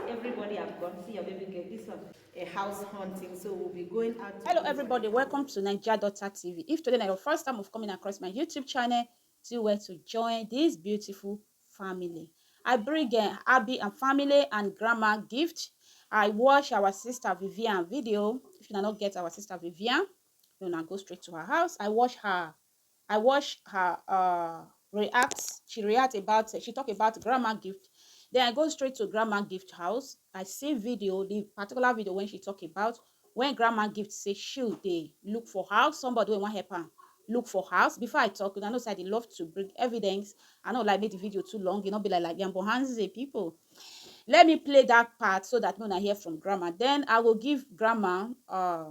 everybody have gone see your baby girl this one a house hunting so we'll be going out hello everybody welcome to niger daughter tv if today is your first time of coming across my youtube channel do well to join this beautiful family i bring uh, abby and family and grandma gift i watch our sister vivian video if you not get our sister vivian you now go straight to her house i watch her I watch her uh, react. She react about she talk about grandma gift. Then I go straight to grandma gift house. I see video, the particular video when she talk about when grandma gift say she they look for house. Somebody when help her look for house. Before I talk, I know say they love to bring evidence. I know like make the video too long. You know be like like Yambo Hands people. Let me play that part so that when I hear from grandma, then I will give grandma uh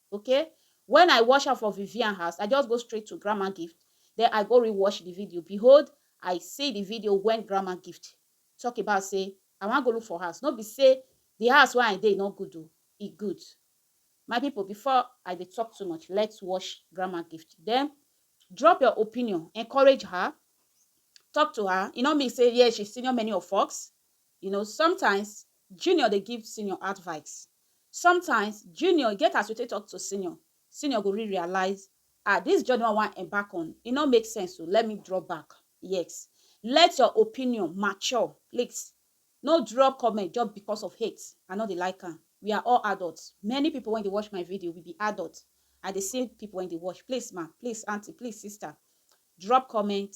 okay when I watch am for Vivian house, I just go straight to Grandma Gift, then I go re-watch the video. Behold, I see the video when Grandma Gift talk about say, I wan go look for house. No be say the house where I dey no good o, e good. My people, before I dey talk too much, let's watch Grandma Gift. Then drop your opinion, encourage her, talk to her. E no mean say yes, she senior many of us. You know sometimes junior dey give senior advice sometimes junior e get as we take talk to senior, senior go re-realize ah this journey wey I wan embark on e no make sense o let me drop back yes let your opinion mature please no drop comment just because of hate I no dey like am we are all adult many people wey dey watch my video we be adult I dey see people wey dey watch please ma please aunty please sister drop comment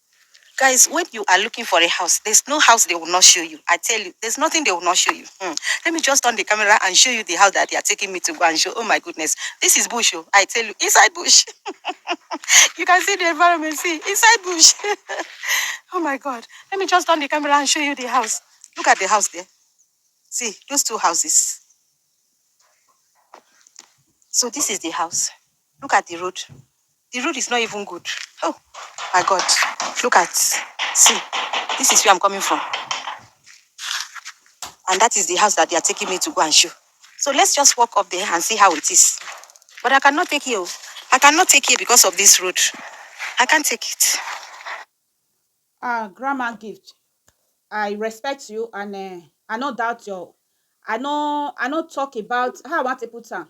Guys when you are looking for a house there's no house they will not show you I tell you there's nothing they will not show you hmm. let me just turn the camera and show you the house that they are taking me to go and show oh my goodness this is bush oh I tell you inside bush you can see the environment see inside bush oh my god let me just turn the camera and show you the house look at the house there see those two houses so this is the house Look at the road, the road is not even good. Oh my God, look at, see, this is where I'm coming from. And that is the house that they are taking me to go and show. So let's just walk up there and see how it is. But I cannot take you. I cannot take you because of this road. I can't take it. Ah, Grandma Gift, I respect you and uh, I no doubt your, I no, I no talk about how I want to put am.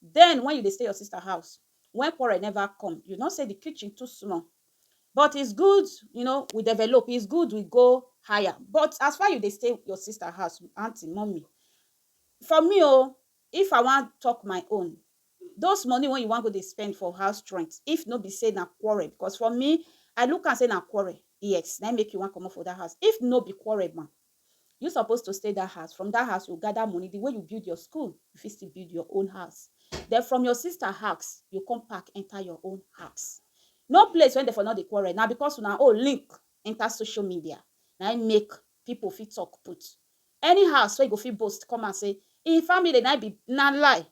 Den wen you dey stay your sista house, wen quarrel neva come, you nor sey di kitchen too small. But is good you know we develop, is good we go higher, but as far you dey stay your sista house, aunty, mummy, for me o, if I wan tok my own, dose money wen you wan go dey spend for house rent, if nor be sey na quarrel, becos for me, I look am sey na quarrel, yes, naim make you wan comot for dat house. If nor be quarrel ma, You suppose to stay dat house, from dat house you go gather money, the way you build your school, you fit still build your own house. Den from your sister house, you come pack enter your own house. No place wey dem for no dey quarrel, na because una own link enter social media na im make people fit talk put. Any house wey you go fit boast come out say im family na im be na lie,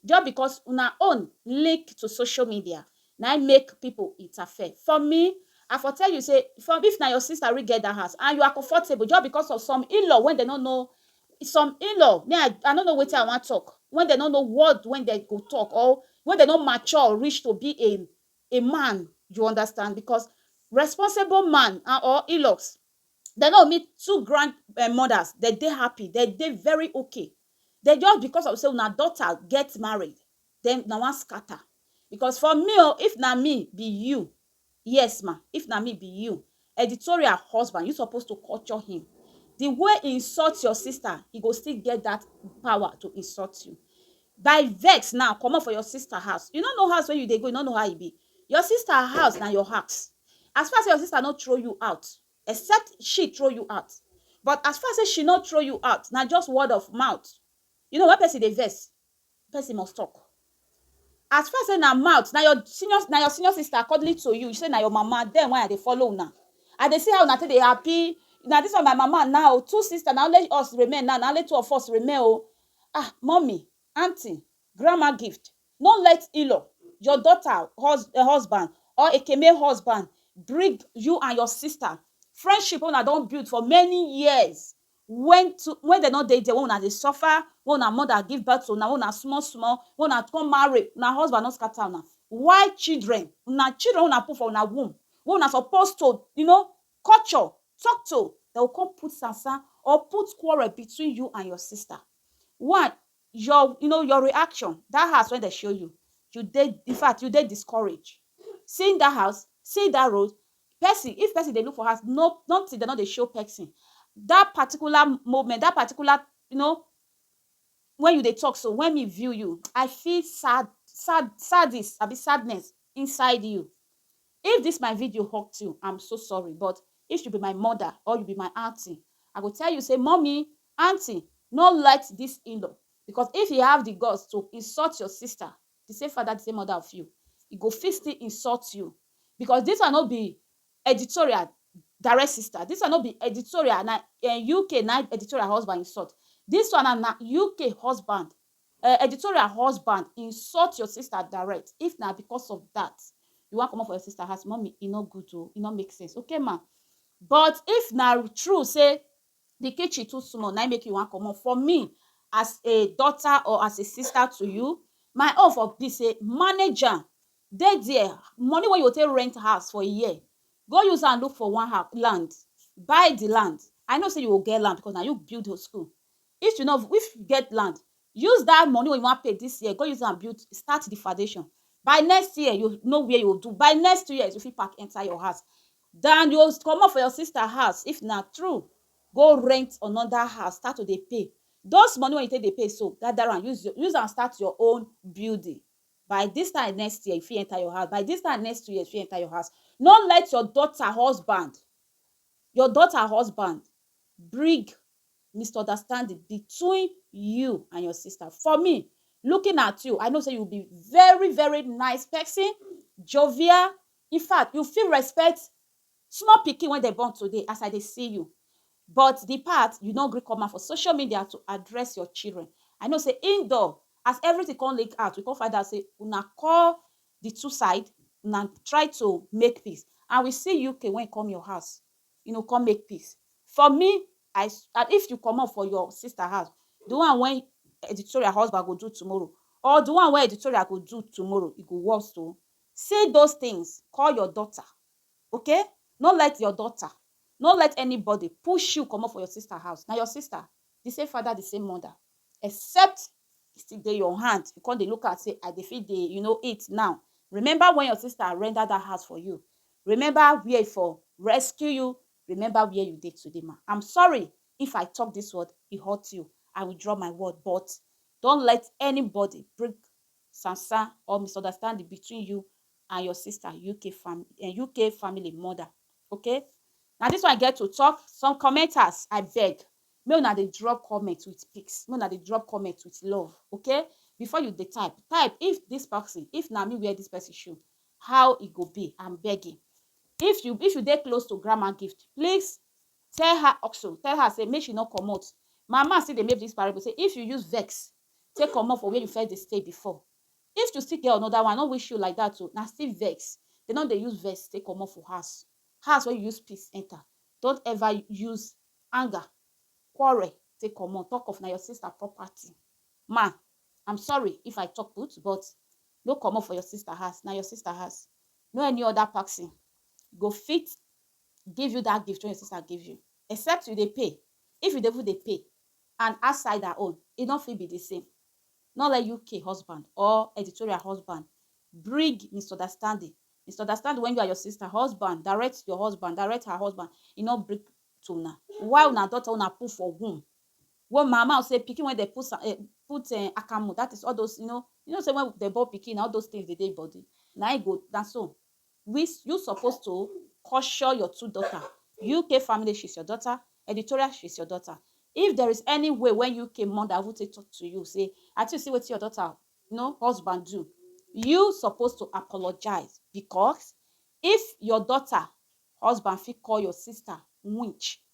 just because una own link to social media na im make people interfere for me I for tell you say from if na your sister really get that house and you are comfortable just because of some in-law when they no know some in-law me I, I no know wetin I wan talk when they no know word when they go talk or when they no mature reach to be a a man you understand because responsible man and or in-laws they no meet two grandmothers they dey happy they dey very okay den just because of sey una daughter get married den una wan scatter because for me o if na me be you yes ma if na me be you editorial husband you suppose to culture him the way he insult your sister he go still get that power to insult you by vex now comot for your sister house you no know house wey you dey go you no know how e be your sister house na your house as far as sey your sister no throw you out except she throw you out but as far say she no throw you out na just word of mouth you know when person dey vex person must talk as far say na mouth na your senior na your senior sister accordingly to you say na your mama then why i dey follow una i dey see how una take dey happy na this one my mama now two sister na only us remain now na only two of us remain o ah mummy Aunty, grandma gift, no let in-law, your daughter hus husband or ekeme husband bring you and your sister friendship wey una don build for many years when to when dem no dey there, when una dey suffer, when una mother give birth to una, when una small small, when una come marry, una husband no scatter una. Why children, na children wey una put for una womb wey una suppose to you know culture talk to dem go come put sansan or put quarrel between you and your sister one your you know your reaction that house wey dem show you you dey in fact you dey discourage seeing that house seeing that road person if person dey look for house no nothing dem no dey show person that particular moment that particular you know when you dey talk so when me view you I feel sad sad sadness abi sadness inside you If this my video hurt you I'm so sorry but if you be my mother or you be my aunty I go tell you say mummy, aunty no let this in-law because if he have the guts to insult your sister the same father the same mother of you he go fit still insult you because this one no be editorial direct sister this one no be editorial na eh, UK na editorial husband insult this one na na UK husband Eh editorial husband insult your sister direct if na because of that you wan comot for your sister house mummy e no good o e no make sense okay ma but if na true say the kitchen too small na im make you wan comot for me as a daughter or as a sister to you my own for be say manage am dey there money wey you go take rent house for a year go use am look for one house land buy the land I know say you go get land because na you build your school If you no if you get land, use dat money wey you wan pay dis year go use am build start the foundation. By next year, you know where you go do. By next two years, you fit pack enter your house dan you go comot for your sister house if na true go rent another house start to dey pay. Those money wey you take dey pay so, gather am use your use am start your own building. By dis time next year, you fit enter your house. By dis time next two years, you fit enter your house. No let your daughter husband your daughter husband bring misunderstanding between you and your sister. For me, looking at you, I know say you be very, very nice person, jovial. In fact, you fit respect small pikin wey dem born today as I dey see you. But the part you no gree come out for social media to address your children. I know say indoor, as everything come leak out, we come find out say una call the two side, una try to make peace and we see you came, when you come your house, you no come make peace for me i and if you comot for your sister house the one wey editorial husband go do tomorrow or the one wey editorial go do tomorrow e go worse o say those things call your daughter okay no let your daughter no let anybody push you comot for your sister house na your sister the same father the same mother except e still dey your hand you come dey look am say i dey fit dey you know eat now remember when your sister render that house for you Remember where i for rescue you remember where you dey today ma am sorry if i talk this word e hurt you i withdraw my word but don't let anybody bring sansan or misunderstanding between you and your sister uk fam um uk family mother okay na this one i get to talk some commenters i beg make una dey drop comment with pics make una dey drop comment with love okay before you dey type type if this person if na me wear this person shoe how e go be am begging if you if you dey close to grandma gift please tell her also tell her say make she no comot my man still dey make this parable say if you use vex take comot for where you first dey stay before if you still get another one i no wish you like that o na still vex they no dey use vex take comot for house house wey you use peace enter don't ever use anger quarrel take comot talk of na your sister property man i'm sorry if i talk put but No comot for your sister house, na your sister house. No any other person go fit give you that gift wey your sister give you except you dey pay. If you dey even dey pay and outside her own, e no fit be the same. No let UK husband or editorial husband bring misunderstanding. Misunderstanding when you and your sister husband direct your husband, direct her husband, e no bring to una. Why una daughter wey una put for womb Wo ma ma say pikin wey dem put sa eh put eh akamu that is all those you know you know say when dem born pikin na all those things dey dey e body na e go na so we you suppose to caution your two daughter UK family she's your daughter editorial she's your daughter if there is any way wey UK mother even take talk to you say ati you see wetin your daughter you know husband do you suppose to apologize because if your daughter husband fit call your sister winch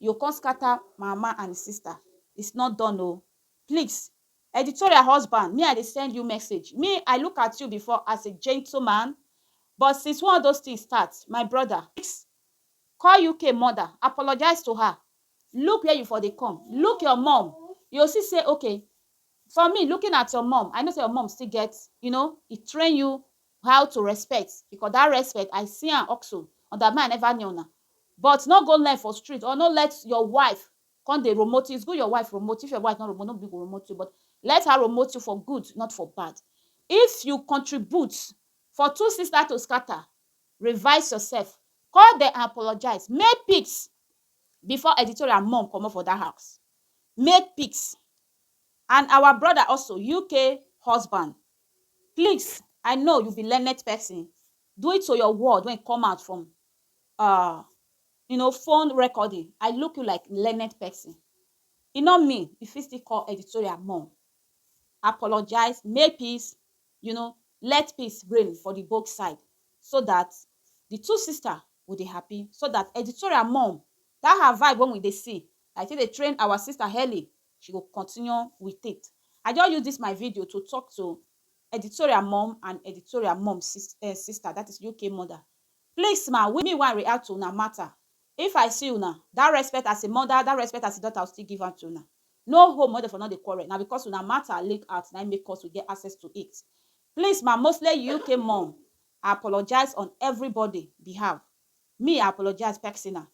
You come scatter my mama and sister it's not done o please editorial husband me I dey send you message me I look at you before as a gentleman but since one of those things start my brother call UK mother apologize to her look where you for dey come look your mom you go see say okay for me looking at your mom I know say your mom still get you know e train you how to respect because that respect I see am also under me I never near una but no go learn for street or no let your wife come dey promote you it's good your wife promote if your wife no promote no be go promote you but let her promote you for good not for bad if you contribute for two sister to scatter revise yourself call them and apologize make peace before editorial mum comot for that house make peace and our brother also UK husband Please I know you be learned person due to your word wey come out from uh, you know, phone recording, I look you like learned person. E no mean you fit still call editorial mom. Apologize, make peace, you know, let peace reign for the both side so that the two sister go dey happy so that editorial mom that her vibe wey we dey see like take dey train our sister early She go continue with it I just use this my video to talk to Editorial mom and Editorial mom sis eh, sister that is UK mother Please ma, we me wan react to una matter If I see una, that respect as a mother, that respect as a daughter I will still give am to una No home wey dem for no dey quarrel, na because una matter leak out na im make us we get access to it Please ma, mostly UK mom I apologize on everybody behalf Me I apologize pexinal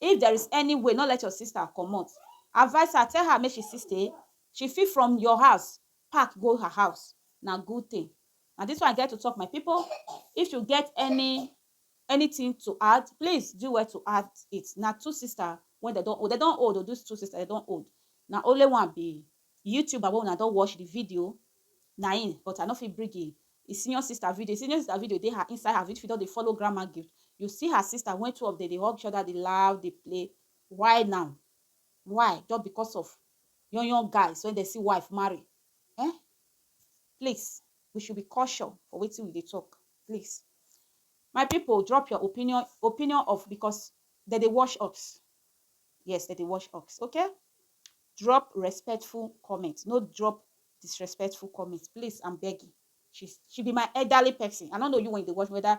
If there is any way no let your sister comot advice her tell her make she still stay she fit from your house pack go her house na good thing na this one I get to talk my people if you get any anything to add please do well to add it na two sister wey dem don old dem don old o this two sister dem don old na only one be The youtuber wey una don watch the video na im but I no fit bring im im senior sister video, im senior sister video dey her inside her video if you don dey follow grandma gift you see her sister when two of dem dey hug each other dey laugh dey play why now why just because of young young guys wey dem see wife marry um please we should be caution for wetin we dey talk please my people drop your opinion opinion of because dem dey wash us yes dem dey wash us okay drop respectful comment no drop disrespectful comment please i'm begging she she be my elderly person i no know you when you dey watch whether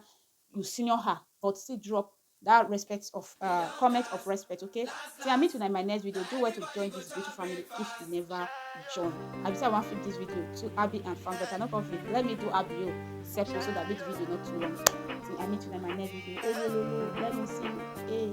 you senior her but still drop that respect of uh, comment of respect okay so i meet you in my next video do well to join this beautiful family if you never join i just want to this video to abby and fam but i not conflict let me do abby you section so that this video not too long so i meet you in my next video oh, let me see hey